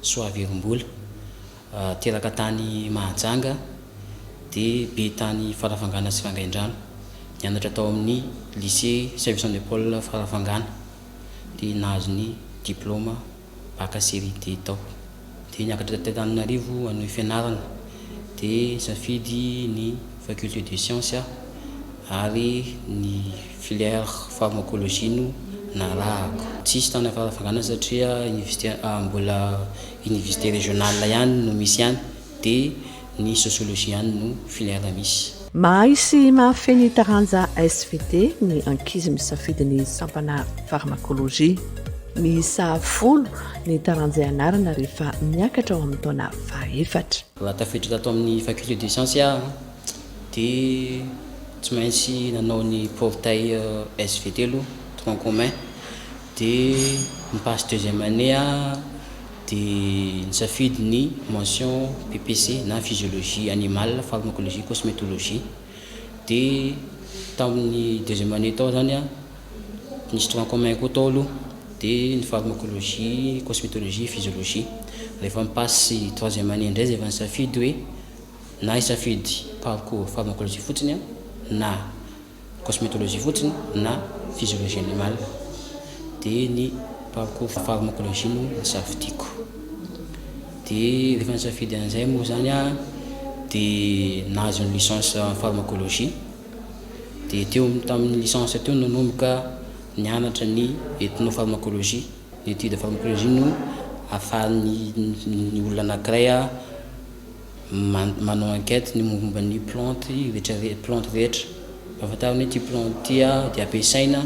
Soavirimbola. Teraka tany Mahajanga dia be tany Farafangana sy Vangaindrano. Nianatra tao amin'ny Lycée Saint Vincent de Paul Farafangana dia nahazo ny diplaoma Bac série D tao. Dia niakatra teto Antananarivo hanohy fianarana dia nisafidy ny Faculté de Sciences ary ny. Filière pharmacologie no narahako. Tsisy tany Farafangana satria université mbola université régionale ihany no misy any dia ny sociologie ihany no filière misy. Mahay sy mahafehy ny taranja SVT ny ankizy misafidy ny sampana pharmacologie. Miisa folo ny taranja ianarana rehefa miakatra ao amin'ny taona fahaefatra. Raha tafiditra tato amin'ny faculté des sciences aho dia tsy maintsy nanao ny portail SVT aloha, tronc commun, dia ny passe deuxième année aho dia nisafidy ny mention PPC na physiologie animale, pharmacologie, cosmétologie, dia tamin'ny deuxième année tao zany an, nisy tronc commun koa tao aloha, dia ny pharmacologie, cosmétologie, physiologie, rehefa mi-passe troisième année indray zay vao nisafidy hoe. Na hisafidy parcours pharmacologie fotsiny aho, na cosmetologie fotsiny, na physiologie animale, dia ny parcours pharmacologie no nisafidiako. Dia rehefa nisafidy an'izay moa izany aho dia nahazo ny licence en pharmacologie. Dia teo amin'ny tamin'ny licence teo nanomboka nianatra ny ethnopharmacologie, ny étude pharmacologie no ahafahan'ny ny olona anankiray Manao enquête ny momba ny plantes rehetra plantes rehetra ahafantarany hoe ty plante ty dia ampiasaina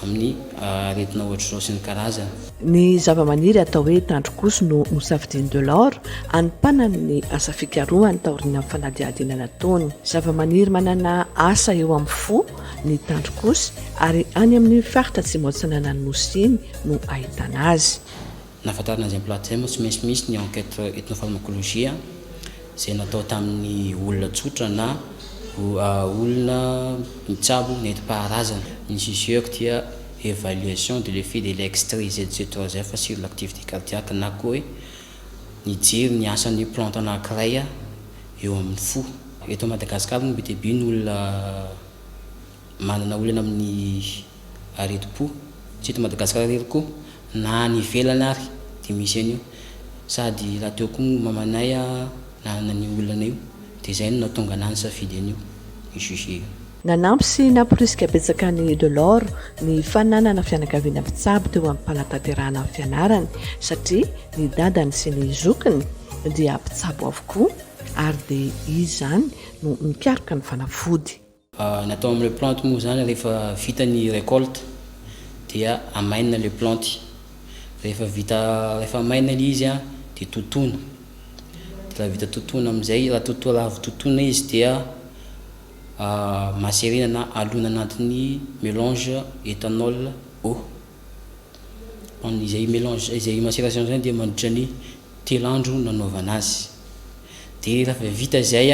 amin'ny aretina ohatr'izao sy ny karazany. Ny zavamaniry atao hoe tandrok'osy no nosafidian'i Delors hanompanany ny asa fikarohany taorian'ny fanadihadiana nataony. Zavamaniry manana asa eo amin'ny fo ny tandrok'osy ary any amin'iny faritra atsimo-atsinanan'ny Nosy iny no ahitana azy. Nahafantarana azy am-plat thème tsy maintsy misy ny enquête ethno-pharmacologie izay natao tamin'ny olona tsotra na olona mitsabo nentim-paharazana. Ny CGEC dia évaluation de l'effet de l'extrait-ZC3F sur l'activité cardiaque na koa hoe mijery ny asan'ny plante anankiray eo amin'ny fo. Eto Madagasikara moa be dia be ny olona Manana olana amin'ny aretim-po tsy eto Madagasikara irery koa na any ivelany ary dia misy an'io sady raha teo koa ny mamanay nanana an'io olana io dia izay no nahatonga anah nisafidy an'io juge io. Nanampy sy namporisika betsaka an'i Delors ny fananana fianakaviana mpitsabo teo am-panatanterahana ny fianarany satria ny dadany sy ny zokiny dia mpitsabo avokoa ary dia izy izany no nikaroka ny fanafody. Ny atao amin'ny le plante moa izany rehefa vita ny recolte dia amainina le planty, rehefa vita rehefa maina le izy dia totoina, de raha vita totoina amizay raha toto- raha avy totoina izy dia maserena na alona anatin'ny melange ethanol eau, izay melange izay maceraion zay dia mandritra ny telo andro nanaovana azy, de rehefa vita zay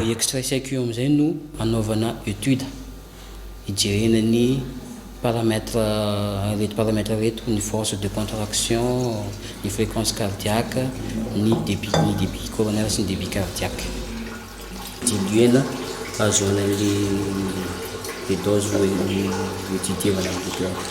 Ny extra saiky io amin'izay no anaovana étude, hijerena ny paramètre ireto paramètre ireto, ny force de contraction, ny fréquence cardiaque, ny débit, ny débit coronaire sy ny débit cardiaque. Didiana hahazoana an'ilay le dose ho didievana ny douleur.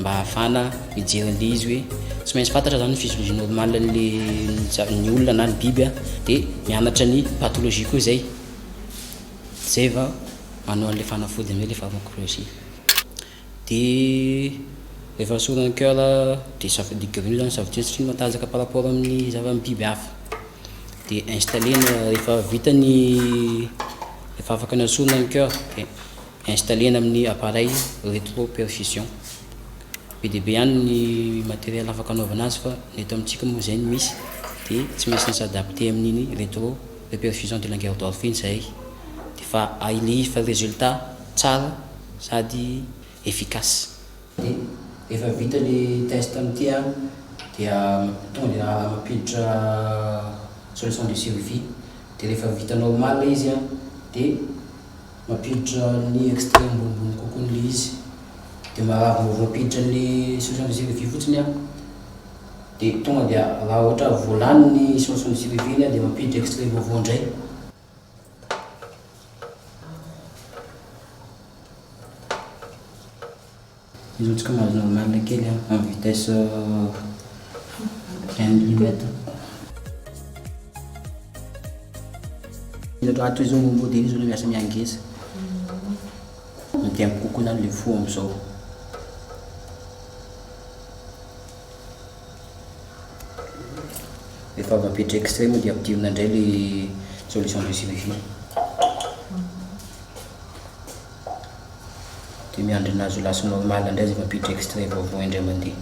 mba hahafahana mijery an'ilay izy hoe tsy maintsy fantatra zany ny physiologie normale an'le ny olona na ny biby a, dia mianatra ny pathologie koa zay, zay vao manao an'ilay fanafody amin'izay le pharmacologie, de rehefa esorina ny coeur de saf- de grille zany safidiny satria matanjaka par rapport amin'ny zava- ny biby hafa, de installer-na rehefa vita ny rehefa afaka nesorina ny coeur dia. Installer-na amin'ny appareil rétropercussion. Be dia be ihany ny matériel afaka anaovana azy fa ny eto amintsika moa izay no misy dia tsy maintsy ny s'adapter amin'iny rétropercussion de Langerdorff iny izahay dia efa ahilehifana résultat tsara sady efficace. Dia rehefa vita ny test amin'ity an, dia tonga dia mampiditra solution de survie dia rehefa vita normal ilay izy an dia. Mampiditra ny extrait ambonimbony kokoa ny le izy de marary vao voampiditra ny solution de survie fotsiny an de tonga dia raha ohatra vao lany ny solution de survie iny an de mampiditra extrait vaovao ndray. Mirotsaka mahazo normale kely an, en vitesse un millimètre. Ato izao ny modely izao no miasa miangeza. Mitempo kokoa izany ilay fo amin'izao. Rehefa avy apetra extrait moa dia ampidirina indray ilay solution de suivi. dia miandry ny nahazo last normal indray zay mampiditra extrait vaovao indray mandeha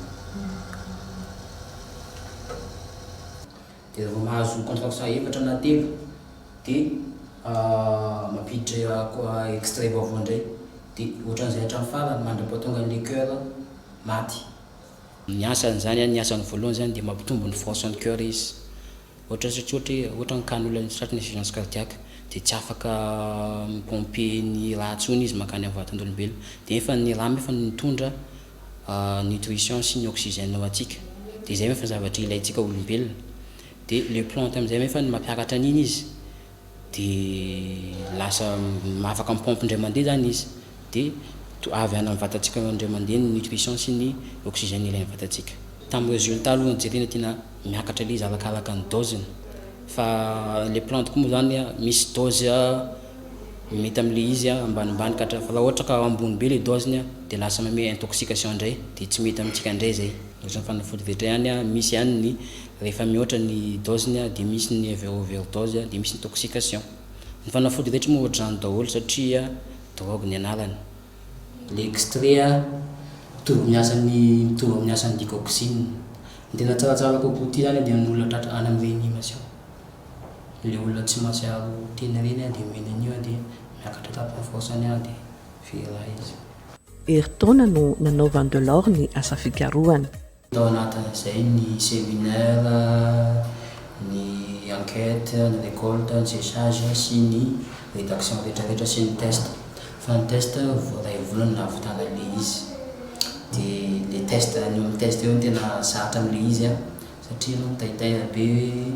dia vao mahazo contract faha efatra na telo dia mampiditra extrait vaovao indray dia ohatran'izay hatramin'ny farany mandra-pahatonga an'ilay coeur maty. Ny asany izany, ny asany voalohany izany dia mampitombo ny force an'ny coeur izy Ohatra zao tsy ohatra hoe ohatra ankany olona misy tratran'ny insuffisance cardiaque dia tsy afaka mi pomper ny rà tsony izy mankany amin'ny vatandolombelona dia efa ny rà efa mitondra nutrition sy ny oxygène ho antsika dia izay efa zavatra ilaintsika olombelona dia le plante amin'izay efa ny mampiakatra an'iny izy Dia lasa afaka mi-pompe indray mandeha izany izy. Dia avy any amin'ny vatantsika ao indray mandeha ny nutrition sy ny oxygène ilain'ny vatantsika. Tamin'ny résultat aloha no jerena tena miakatra ilay izy arakaraka ny dose-ny. Fa ilay plante koa moa izany misy dose mety amin'ilay izy ambanimbany ka hatrany. Fa raha ohatra ka ambony be ilay dose-ny dia lasa manome intoxication indray dia tsy mety amintsika indray izay. Ohatran'ny fanafody rehetra ihany, misy ihany ny. Rehefa mihoatra ny dose-ny dia misy ny overdose dia misy intoxication. Ny fanafody rehetra moa ohatr'izany daholo satria drogue ny anarany. Ilay extrait mitovy amin'ny asany mitovy amin'ny asan'ny digoxine. Ny tena tsaratsara kokoa ity izany dia ny olona tratra any amin'ny reanimation. Ilay olona tsy mahatsiaro tena ireny dia omena an'io dia miakatra tamin'ny force-ny any dia very ra izy. Herintaona no nanaovan'i Delors ny asa fikarohana. Tao anatin'izay ny séminaire, ny enquête, ny récolte, ny séchage sy ny rédaction retraretra sy ny test. Fa ny test voaray volana no nahavitana an'ilay izy. Dia ilay test, ny eo amin'ny test eo no tena zatra amin'ilay izy an, satria ianao mitaitaina be hoe.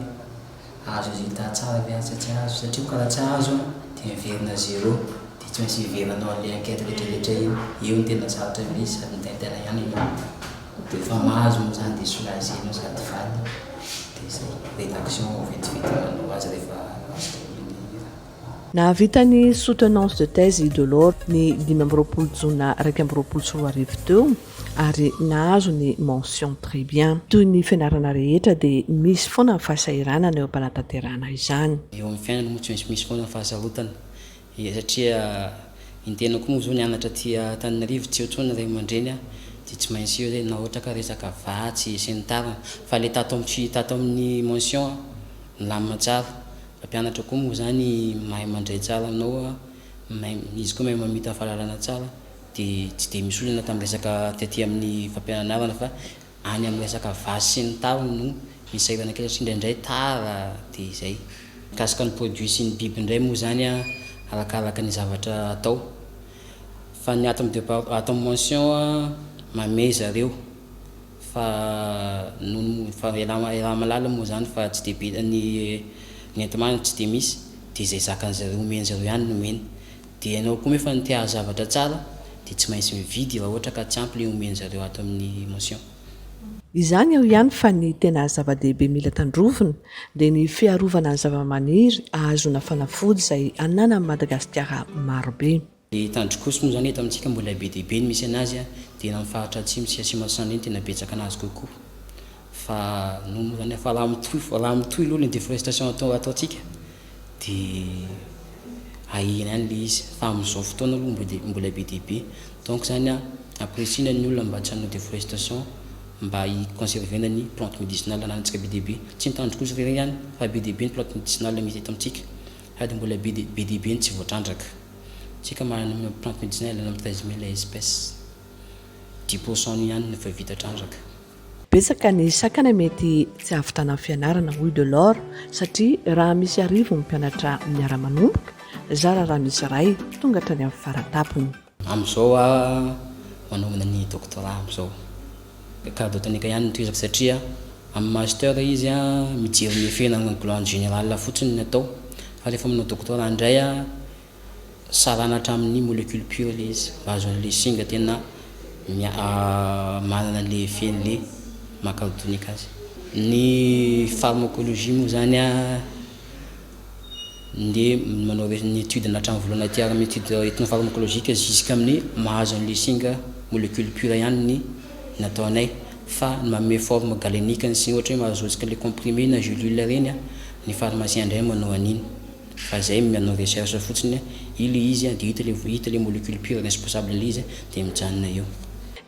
ahazo résultat tsara ve asa tsy ahazo satria ko raha tsy ahazo an dia miverina zero dia tsy maintsy hiverina hanao anle enquête retraretra iny eo no tena sarotra be izy sady mitaintaina ihany ianao dia refa mahazo moa zany dia soulager nao sady valina dia zay redaction vao vetivety manao azy refa azo dia mila hira. Nahavita ny Soutenance de thèse i Delors ny dimy amby roapolo jona iraika amby roapolo sy roa arivo teo ary nahazo ny mention très bien. Toy ny fianarana rehetra dia misy foana ny fahasahiranana eo am-panatanterahana izany. Eo amin'ny fiainana moa tsy maintsy misy foana ny fahasarotana satria ny tena koa moa izao nianatra aty Antananarivo tsy eo intsony ny ray aman-dreny dia tsy maintsy eo izay na ohatra ka resaka vatsy sy ny tariny fa ilay tato amin'ny tato amin'ny mention milamina tsara Mpampianatra koa moa zany mahay mandray tsara anao a, izy koa mahay mamita fahalalana tsara de tsy de misy olana tam resaka tety amin'ny fampiananarana fa any am resaka vazo sy ny tariny no misy sahirana kely satria indraindray tara de zay. Mikasika ny produit sy ny biby indray moa zany a arakaraka ny zavatra atao fa ny ato am depart ato am mention a mamehy zareo Fa noho ny fa i Rama i Ramalala moa zany fa tsy dia be ny ny enti-manana tsy dia misy dia izay zakan'izay ireo omen'izy ireo ihany no omeny dia ianao koa moa efa ny te hahazo zavatra tsara dia tsy maintsy mividy raha ohatra ka tsy ampy le omen'zareo ato amin'ny motion. Izany eo ihany fa ny tena zava-dehibe mila tandrovina dia ny fiarovana ny zava-maniry ahazoana fanafody izay ananan'i Madagasikara marobe. Ny tandrok'osy moa izany eto amintsika mboa ilay be dia be no misy anazy a, dia eny amin'ny faritra atsimo sy atsimo antsinanana eny tena betsaka anazy kokoa fa noho moa izany fa raha mitohy fa raha mitohy aloha ny déforestation atao ataontsika dia hahena any ilay izy fa amin'izao fotoana aloha mboa dia mbola be dia be donc izany a ampirisihina ny olona mba tsy hanao déforestation mba hi conserver-na ny plante médicinale ananantsika be dia be tsy ny tandrok'osy irery ihany fa be dia be ny plante médicinale misy eto amintsika sady mbola be dia be dia be ny tsy voatrandraka. Tsika manana ny maha Plante médicinale any amin'ny treize mille espèces. Dix pour cent ihany no efa vita trandraka. Betsaka ny sakana mety tsy hahavitana ny fianarana, hoy Delors, satria raha misy arivo ny mpianatra miara-manomboka, zara raha misy iray tonga hatrany amin'ny fara-tampony. Amin'izao aho manaovana ny doctorat amin'izao. Garde botanique ihany no tohizako satria amin'ny master izy mijery ny effet na ny glande générale fotsiny ny atao fa rehefa manao doctorat indray sarana hatramin'ny molecule pure ilay izy mba ahazoana ilay singa tena manana ilay effet an'ilay maha garde botanique azy. Ny pharmacologie moa izany ndeha manao ny étude na hatramin'ny voalohany aty ary amin'ny étude ethno-pharmacologique jusqu'amin'ny mahazo an'ilay singa molecule pure ihany ny nataonay fa ny manome forme galenique ny singa ohatra hoe mahazotsika ilay comprimé na gelule ireny ny pharmacien indray manao an'iny fa zay manao recherche fotsiny ilay izy dia hita ilay hita ilay molecule pure responsable an'ilay izy dia mijanona eo.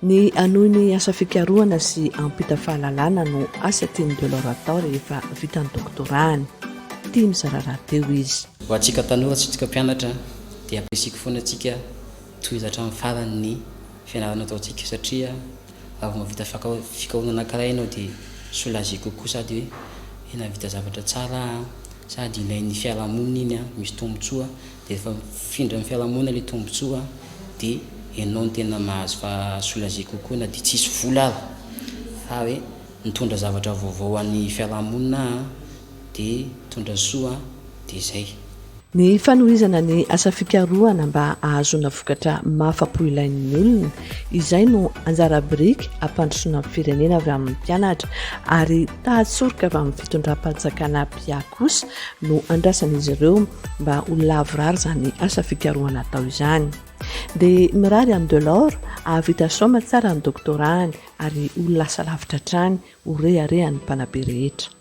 Ny hanohy ny asa fikarohana sy hampita fahalalana no asa tian'i Delors atao rehefa vita ny doktorahany. Tia mizara rahateo izy. Ho antsika tanora sy antsika mpianatra dia ampirisiko foana antsika tohizo hatramin'ny farany ny fianarana ataontsika satria raha vao mahavita fikarohana anankiray ianao dia soulager kokoa sady hoe nahavita zavatra tsara aho sady ilain'ny fiarahamonina iny, misy tombontsoa Dia efa mifindra amin'ny fiarahamonina ilay tombotsoa dia ianao no tena mahazo fa soulager kokoa na dia tsy hisy vola ary fa hoe mitondra zavatra vaovao ho an'ny fiarahamonina aho dia mitondra soa dia izay. Ny fanohizana ny asa fikarohana mba hahazoana vokatra mahafa-po ilain'ny olona, izay no anjara biriky hampandrosoana ny firenena avy amin'ny mpianatra ary taha-tsoroka avy amin'ny fitondram-panjakana mpihà kosa no andrasan'izy ireo mba ho lavorary izany asa fikarohana atao izany. Dia mirary an'i Delors hahavita saoma tsara ny doctorat-ny ary ho lasa lavitra hatrany ho reharehan'ny mpanabe rehetra.